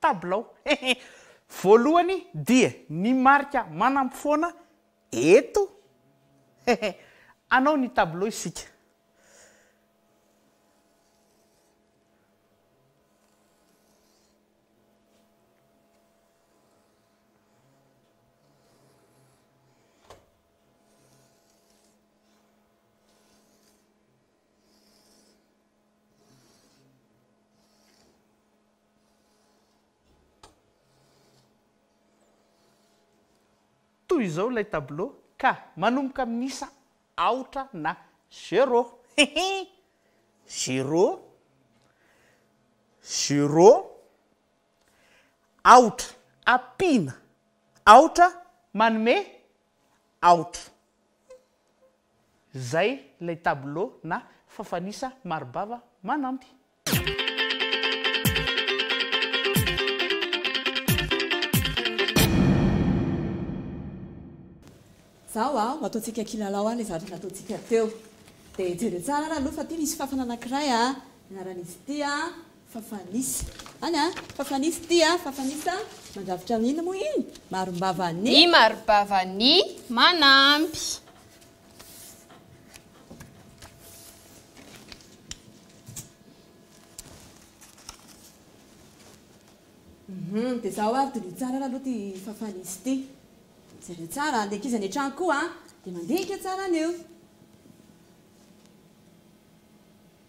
Tabilao. Hehe. Voalohany dia ny marika manampofoana eto. Hehe. Hanao ny tabilao isika. Toy izao ilay tableau ka manomboka amin'ny isa aotra na zero. Hihi! Zero, zero, aotra. Ampiana aotra manome aotra. Izay ilay tableau na fafan'isa mari-bava manampy. Zao a, ho ataontsika kilalao a le zavatra nataontsika teo. Dia jereo tsara ary aloha fa ity misy fafana anankiray a, ny anaran'izy ity a, fafan'isa. Any a, fafan'isa ity a, fafan'isa mandrafitra ny inona moa iny? Marim-bava ny. Ny marim-bava ny manampy. Hum, dia izaho ary diniho tsara ary aloha ity fafan'izy ity. Jereo tsara, ny ankizy any an-trano koa dia mandinika tsara an'io.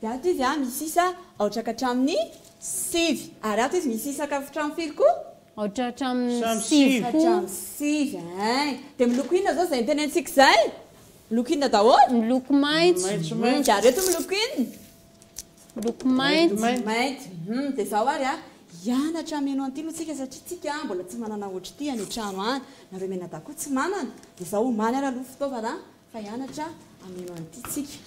Dia ato izy a misy isa aotra ka hatramin'ny sivy. Ary ato izy misy isa ka hatramin'ny firy koa? Aotra hatramin'ny sivy koa. Hatramin'ny sivy ein. Dia miloko inona izao izay nitenentsika izay? Miloko inona daholo? Miloko maitso. Hum, dia ary eto miloko inona? Miloko mainty. Mainty. Hum, dia izao ary a, hianatra hameno an'ity aloha tsika satria tsika a mbola tsy manana ohatr'ity any an-trano any. Nareo mianadahy koa tsy manana. Dia izao omaly ary aloha fitaovana Fa hianatra hameno an'ity tsika.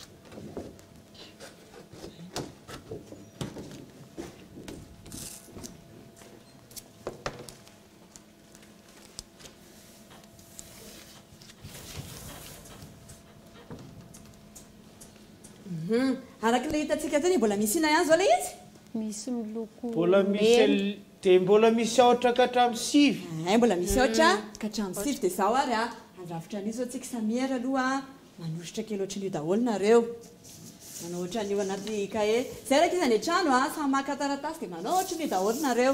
Araka ilay hitantsika teo, mbola misy inona ihany izao ilay izy? Misy miloko mena. Mbola misy Dia mbola misy aotra ka hatramin'ny sivy. Eeh mbola misy aotra ka hatramin'ny sivy dia izao ary a, handrafitra an'io izao tsika samy miera aloha a, manoritra kely ohatran'io daholo nareo, manao ohatran'io anaty cahier, izay raha k'iza any an-trano a, samy maka taratasy dia manao ohatran'io daholo nareo.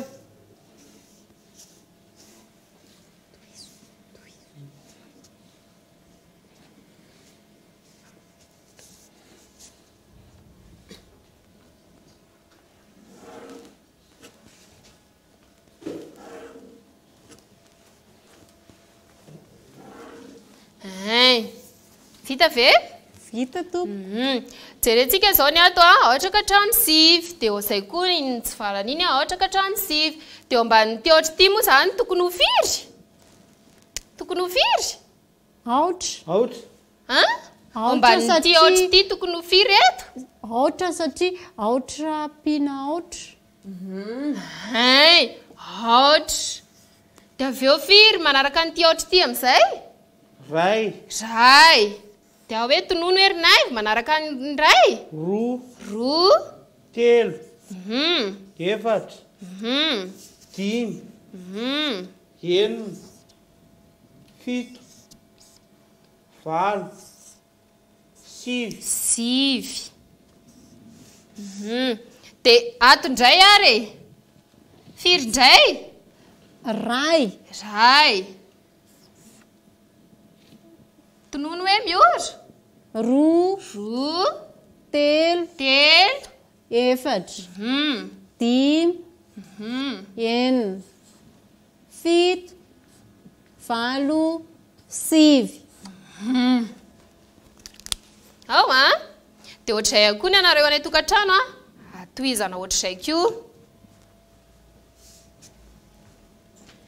Tohizo. Vita ve? Vita tompoko. Mhm. Jerentsika izao ny ato a, ohatra ka trano sivy, dia ho izay koa ny tsy farany iny a, ohatra ka trano sivy. Dia eo ambanin'ity ohatra ity moa izany tokony ho firy? Tokony ho firy? Aotra. Aotra. An? Aotra Omban'ity satria- aotra ity tokony ho firy eto? Aotra satria aotra ampiana aotra. Hein, aotra. Dia avy eo firy manaraka an'ity aotra ity amin'izay? Ray. Ray. Dia hoe tonony hoe ry naivo manaraka ny ray? Roa. Roa. Telo. Mhm. Efatra. Mhm. Dimy. Mhm. Enina. fito, valo, sivy. Sivy. Hum. Dia ato indray ary e. Firy indray? Ray. Ray. Tonony hoe miora? Roa. Roa. Telo. Telo. Efatra. Hum. Dimy. Hum. Enina. Fito, valo, sivy. Hum. Ao an! Dia ohatr'izay ihany koa ny anareo any an-tokantrano an! Tohizana ohatr'izay koa.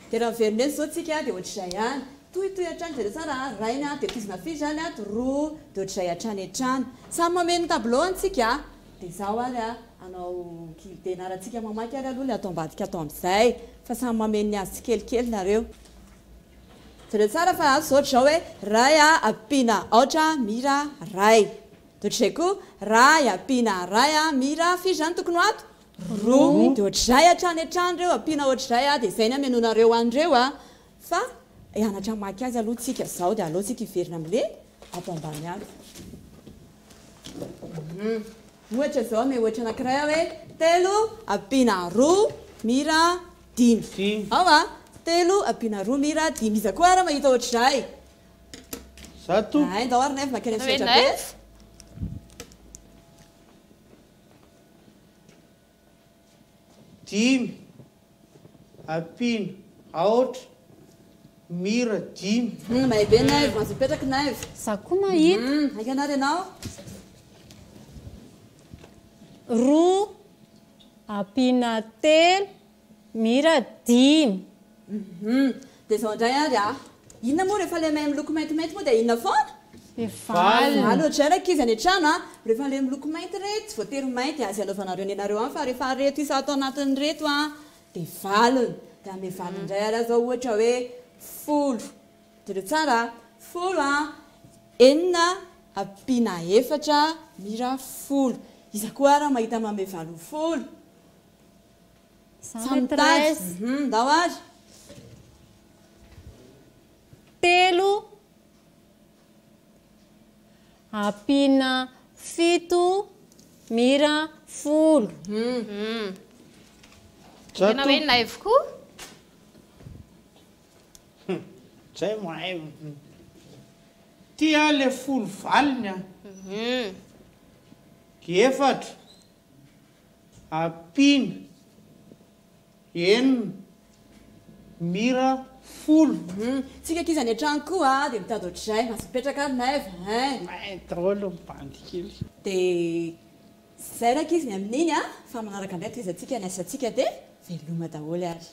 Dia raha miverina eto izao tsika dia ohatr'izay ihany. Tohitohy hatrany zareo tsara an! Rainy an! Dia tohizana firy izany an? Roa. Dia ohatr'izay hatrany hatrany. Samy mameno ny tableau an tsika an! Dia zao ary a, anao kivy dia naratsika mamaky ary aloha le ato ambadika ato amzay fa samy mameno ny azy tsikelikely nareo. Jereo tsara fa ato zao drao hoe ray a ampiana aotra mira ray de otrizay koa ray ampiana ray a mira firy zany tokony ho ato? roa de otrizay hatrany hatrany reo ampiana otrizay a de zay ny amenoanareo anreo a fa hianatra mamaky azy aloha tsika zao de aleo tsika hiverina amle ato ambany ato. Ohatra izao anie, ohatra anankiray aho hoe telo ampiana roa mira dimy. Dimy. Ao a! Telo ampiana roa mira dimy. Iza koa ary mahita ohatr'izay? Zato. Hay, ndao ary Naivo makany amin'ny sehatra be. Dimy, ampino, aotra, mira, dimy. Humm mahay be Naivo, mahazo mipetraky Naivo. Za koa mahita. Humm hainga anah ry anao. Roa, ampina telo, Mira dimy. Hum dia zao indray ary a! Inona moa rehefa ilay mahay miloko maintimainty moa dia inona foana? Mivalona. Aleo ohatr'izay ny ankizy any an-trano a! Rehefa ilay miloko mainty re tsy voatery mainty azy anaovanareo nenareo any fa rehefa ireto isa ato anatiny ireto a dia valona. Dia hanome valiny indray ary aho izao ohatra hoe folo. Jereo tsara a! Folo a! Enina ampiana efatra Mira folo. Iza koa ary mahita manome valo folo? Za maîtresse. Humm ndao ary. Telo ampiana fito mira folo. Humm. Tena hoe naivo koa. Humm zay mahay humm. Ty ah le folo valiny ah. Humm. Efatra. Ampiana, enina, mira, folo. Hum, tsika ankizy any an-trano koa dia mitady ohatr'izay, aza mipetraka ary Naiv hein. Main daholo ny bandy kely. Dia izay rankizy ny amin'iny a, fa manaraka indray tohizantsika ny asantsika dia. Veloma daholo ary.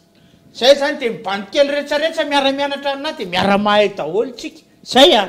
Zay zany de mibandy kely retsaretsa miara mianatra aminah de miara mahay daholo tsika. Zay a.